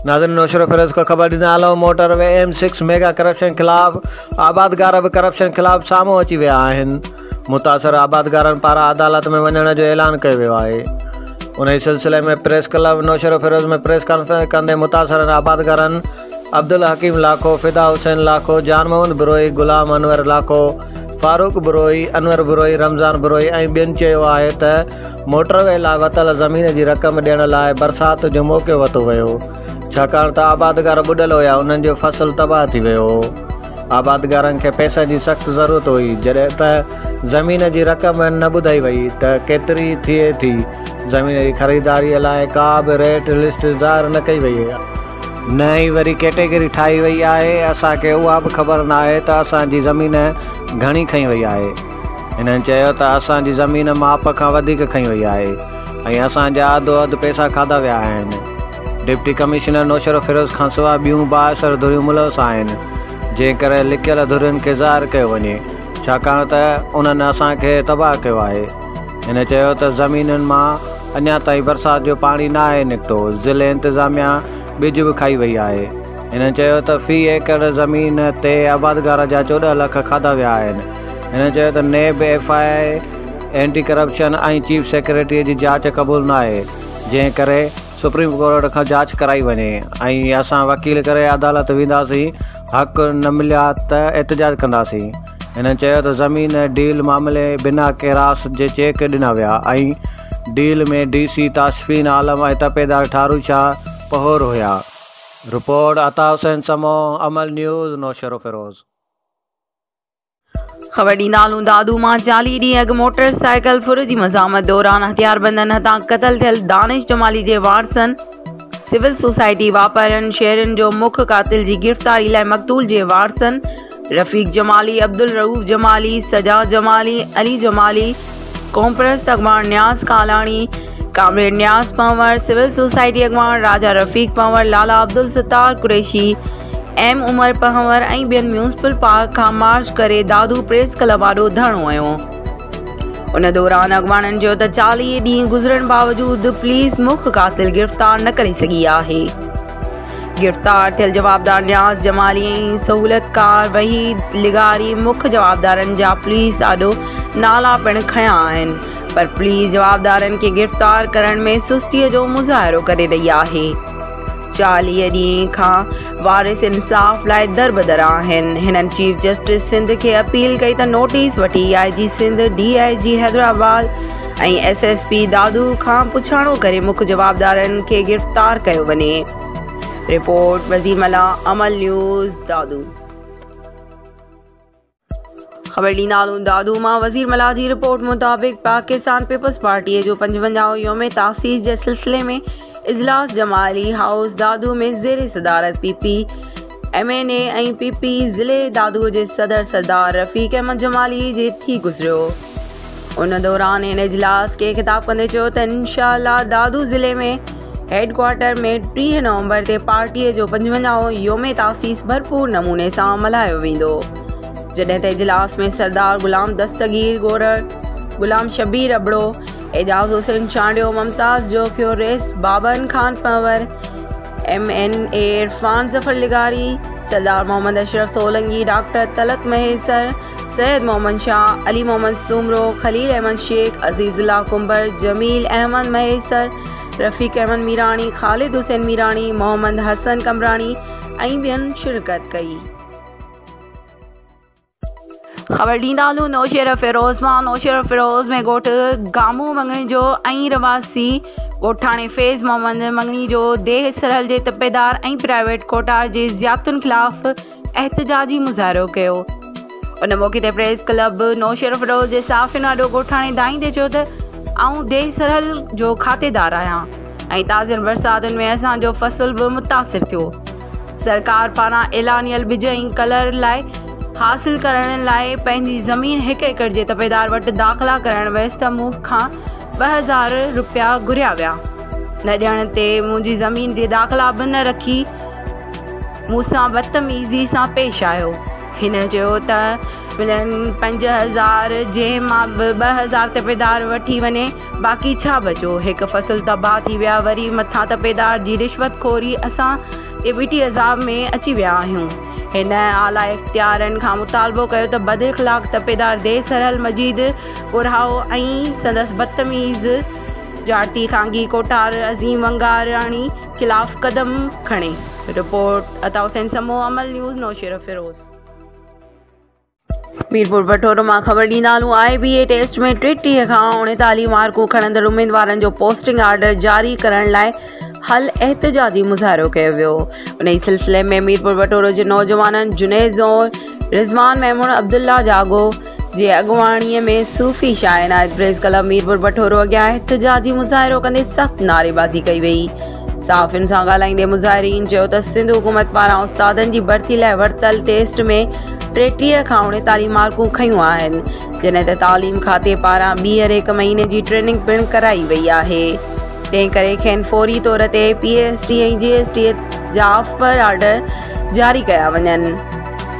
ناظرين نوشھرو فيروز کي خبر ڏيندي آلو motor V M six mega corruption خلاف آبادگار به ڪرپشن خلاف سامهون اچي ويا آهن متاثر آبادگارن پاران عدالت ۾ وڃڻ جو اعلان ڪيو ويو آهي انهي سلسلي ۾ press club Naushahro Feroze ۾ press conference ڪندي متاثرن آبادگارن عبدالحڪيم لاکو، فدا حسين لاکو، جان محمد بروهي، غلام انور لاکو، فاروق بروهي، انور بروهي، رمضان بروهي ۽ ٻين چيو آهي ته موٽر وي لاء وتل زمين جي رقم ڏيڻ لاء برسات جو موقعو وتو ويو ڇاڪاڻ ته آبادگار ٻڏل هيا انهن جو فصل تباهه ٿي ويو هو آبادگارن کي پئسن جي سخت ضرورت هئي جڏهن ته زمين جي رقم نه ٻڌائي وئي ته ڪيتري ٿئي ٿي زمين جي خريداري لاء ڪا به ريٽ لسٽ ظاهر نه ڪئي وئي نه ئي وري ڪيٽيگري ٺاهي وئي آهي، اسان کي اها به خبر ناهي ته اسان جي زمين گهڻي کئي وئي آهي. هنن چيو ته اسان جي زمين ماپ کان وڌيڪ کئي وئي آهي ۽ اسان جا اڌو اڌ پئسا کاڌا ويا آهن. ڊپٽي ڪمشنر نوشهروفيروز کانسواء ٻيون بااثر ڌريون ملوث آهن، جنهن ڪري لڪيل ڌرين کي ظاهر ڪيو وڃي، ڇاڪاڻ ته انهن اسان کي تباهه ڪيو آهي. هن چيو ته زمينن مان اڃا تائين برسات جو پاڻي ناهي نڪتو، ضلعي انتظاميا ٻج به کائي وئي آهي. هن چيو ته في ايڪڙ زمين تي آبادگار جا چوڏهن لک کاڌا ويا آهن. هن چيو ته NAB, F I A, anti corruption ۽ chief secretary جي جاچ قبول ناهي، جنهن ڪري سپريم ڪورٽ کان جاچ ڪرائي وڃي ۽ اسان وڪيل ڪري عدالت وينداسين، حق نه مليا ته احتجاج ڪنداسين. هن چيو ته زمين ڊيل معاملي بنا ڪيراس جي چيڪ ڏنا ويا ۽ deal ۾ D C Tashfeen Alam ۽ تپيدار ٺارو شاهه پهور هيا. Report, Ata Hussain Samoon, Amal news, Naushahro Feroze. خبر ڏيندالون دادو مان چاليهه ڏينهن اڳ موٽر سائيڪل ڦر جي مزاحمت دوران هٿياربندن هٿان قتل ٿيل دانش جمالي جي وارثن، سول سوسائٽي واپارين شهرين جو مک قاتل جي گرفتاري لاء مقتول جي وارثن رفيق جمالي، عبدالرئوف جمالي، سجا جمالي، علي جمالي، قومپرست اڳواڻ Niaz Kalani, comrade Niaz Panhwar, civil society اڳواڻ راجا رفيق پنهور، لالا عبدالستار قريشي، ايم عمر پنهور ۽ ٻين ميونسپل پارڪ کان مارچ ڪري دادو پريس ڪلب آڏو ڌرڻو هنيو. ان دوران اڳواڻن چيو ته چاليهه ڏينهن گذرڻ باوجود پوليس مک قاتل گرفتار نه ڪري سگهي آهي، گرفتار ٿيل جوابدار نياز جمالي ۽ سهولتڪار وحيد لغاري مک جوابدارن جا پوليس آڏو نالا پڻ کنيا آهن پر پوليس جوابدارن کي گرفتار ڪرڻ ۾ سستي جو مظاهرو ڪري رهي آهي. چاليهه ڏينهن کان وارث انصاف لاء دربدر آهن، هنن چيف جسٽس سنڌ کي اپيل ڪئي ته نوٽيس وٺي I G Sindh, D I G Hyderabad ۽ S S P Dadu کان پڇاڻو ڪري مک جوابدارن کي گرفتار ڪيو وڃي. رپورٽ، وزير ملاح، عمل نيوز، دادو. خبر ڏيندا هلون دادو مان وزير ملاح جي رپورٽ مطابق پاڪستان پيپلز پارٽي جو پنجونجاهون يوم تاسيس جي سلسلي ۾ اجلاس جمالي هائوس دادو ۾ زير صدارت P P M N A ۽ P P ضلعي دادو جي صدر سردار رفيق احمد جمالي جي ٿي گذريو ان دوران هن اجلاس کي خطاب ڪندي چيو ته انشاء الله دادو ضلعي ۾ هيڊڪوارٽر ۾ ٽيهه نومبر تي پارٽي جو پنجونجاهون يوم تاسيس ڀرپور نموني سان ملهايو ويندو جڏهن ته اجلاس ۾ سردار غلام دستگير گورڙ، غلام شبير ابڙو، اعجاز حسين چانڊيو، ممتاز Jokhio, Rais Baban Khan Panhwar, M N A Irfan Zafar لغاري، سردار محمد اشرف سولنگي، ڊاڪٽر طلعت مهيسر، سيد محمد شاهه، علي محمد سومرو، خليل احمد شيخ، عزيز الله ڪنڀر، جميل احمد مهيسر، رفيق احمد ميراڻي، خالد حسين ميراڻي، محمد حسن قمبراڻي ۽ ٻين شرڪت ڪئي. خبر ڏيندا هلون نوشهره فيروز مان نوشهره فيروز ۾ ڳوٺ گامو مڱڻيجو ۽ رهواسي ڳوٺاڻي فيض محمد مڱڻيجو ديهه سرحل جي تپيدار ۽ پرائيويٽ ڪوٽار جي زيادتين خلاف احتجاجي مظاهرو ڪيو. ان موقعي تي پريس ڪلب نوشهروفيروز جي صحافين آڏو ڳوٺاڻي دانهيندي چيو ته آئون ديهه سرحل جو کاتيدار آهيان ۽ تازين برساتن ۾ اسان جو فصل به متاثر ٿيو. سرڪار پاران اعلانيل ٻج ۽ ڪلر لاء حاصل ڪرڻ لاء پنهنجي زمين هڪ ايڪڙ جي تپيدار وٽ داخلا ڪرائڻ ويس ته مون کان ٻه هزار رپيا گهريا ويا. نه ڏيڻ تي منهنجي زمين جي داخلا به نه رکي. مون سان بدتميزي سان پيش آيو هن چيو ته ملن پنج هزار جنهن مان به ٻه هزار تپيدار وٺي وڃي باقي ڇا بچو هڪ فصل تباهه ٿي ويا وري مٿان تپيدار جي رشوت خوري اسان تي ٻيٽي عذاب ۾ اچي ويا آهيون هن اعليٰ اختيارين کان مطالبو ڪيو ته بد اخلاق تپيدار دي سرحل مجيد پورهائو ۽ سندس بدتميز جارتي خانگي ڪوٺار عظيم ونگاراڻي خلاف قدم کڻي. Report, Ata Hussain Samoon, Amal news, Naushahro Feroze. ميرپوربٺورو مان خبر ڏيندا هلون آء بي اي ٽيسٽ ۾ ٽيٽيهه کان اڻيتاليهه مارڪون کڻندڙ اميدوارن جو پوسٽنگ آرڊر جاري ڪرڻ لاء هل احتجاجي مظاهرو ڪيو ويو انهي سلسلي ۾ ميرپوربٺورو جي نوجوانن جنيد زور، رضوان ميمڻ، عبدالله جاڳو، جي اڳواڻي ۾ صوفي شاعر عنايت پريس ڪلب ميرپور بٺورو اڳيان احتجاجي مظاهرو ڪندي سخت نعريبازي ڪئي وئي. صحافين سان ڳالهائيندي مظاهرين چيو ته سنڌ حڪومت پاران استادن جي ڀرتي لاء ورتل ٽيسٽ ۾ ٽيٽيهه کان اڻيتاليهه مارڪون کنيون آهن جڏهن ته تعليم کاتي پاران ٻيهر هڪ مهيني جي ٽريننگ پڻ ڪرائي وئي آهي تنهنڪري کين فوري طور تي P S T ۽ G S T جا آفر آرڊر جاري ڪيا وڃن.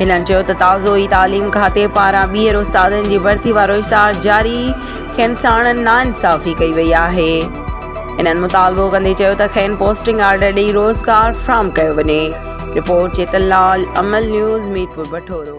هنن چيو ته تازو ئي تعليم کاتي پاران ٻيهر استادن جي ڀرتي وارو اشتهار جاري کين ساڻن ناانصافي ڪئي وئي آهي. هنن مطالبو ڪندي چيو ته کين پوسٽنگ آرڊر ڏئي روزگار فراهم ڪيو وڃي. Report, Chetan Lal, Amal news, Mirpur Bathoro.